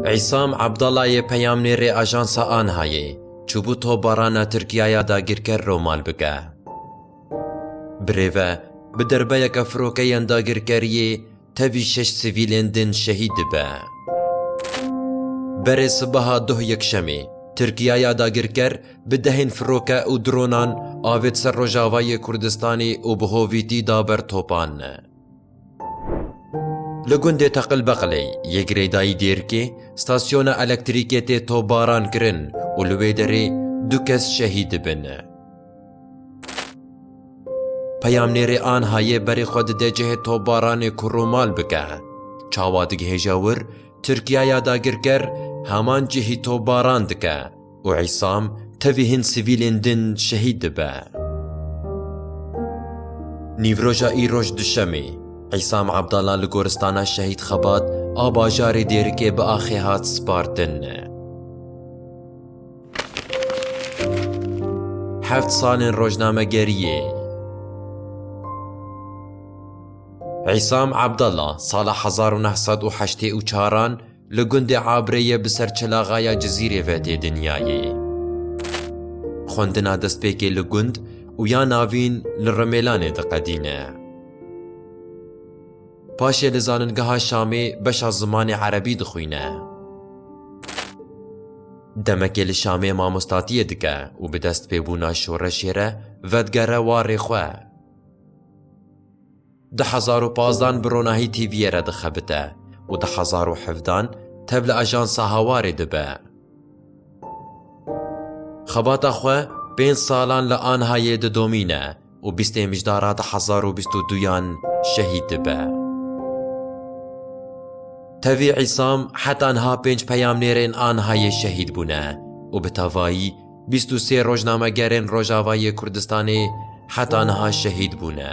Îsam Abdalayê peyamnêrê ajansa ANHA'yê çûbû topbarana Tirkiyaya dagîrker re mal bike. Bi rê ve bi derbeyeke firokeyên dagîrkeriyê tevî şeş sivîlên din şehîd dibe. Berê sibeha doh Yekşemê Tirkiyaya dagîrker bi dehên firoke û dronan avêt ser Rojavayê Kurdistanê û bi hovîtî da ber topan. Li gundê Teqilbeqilê yê girêdayî Dêrkê stasyona elektrîkê tê topbaran kirin û li wê derê du kes şehîd dibin. Peyamnêrê Anhayê berê xwe dide cihê topbaranê ku rûmal bike. Çawa digihêje wir, Tirkiyaya dagirker heman cihî topbaran dike. Û Îsam tevî hin sivîlên din şehîd dibe. Nîvroja îroj duşemê, Îsam Abdala li Goristana Şehîd Xebat a bajarê Dêrikê bi axê hat spartin. Heft salên rojnamegeriyê. Îsam Abdala sala hezar û neh sed û heştê û çaran Li gundê Abrê ye bi ser çelaxaya Cizîrê ve tê dinyayê. Xwendina destpêkê li gund û ya navîn li Rimêlanê diqedîne. Paşê li Zaningeha Şamê beşa zimanê Erebî dixwîne. Demekê li Şamê mamostatiyê dike û bi destpêbûna şoreşê re vedigere warê xwe. Di hezar û pazdan bi ronahî TV'yê re dixebite û di hezar û hevdan tev li Ajansa Hawarê dibe. Xebata xwe pênc salan li Anhayê didomîne û bîstê mijdara di hezar û bîst û duyan şehîd dibe. Tevî Îsam heta niha pênc peyamnêrên Anhayê şehîd bûne û bi tevayî Bîst û sê rojnamegerên Rojava yê Kurdistanê heta niha şehîd bûne.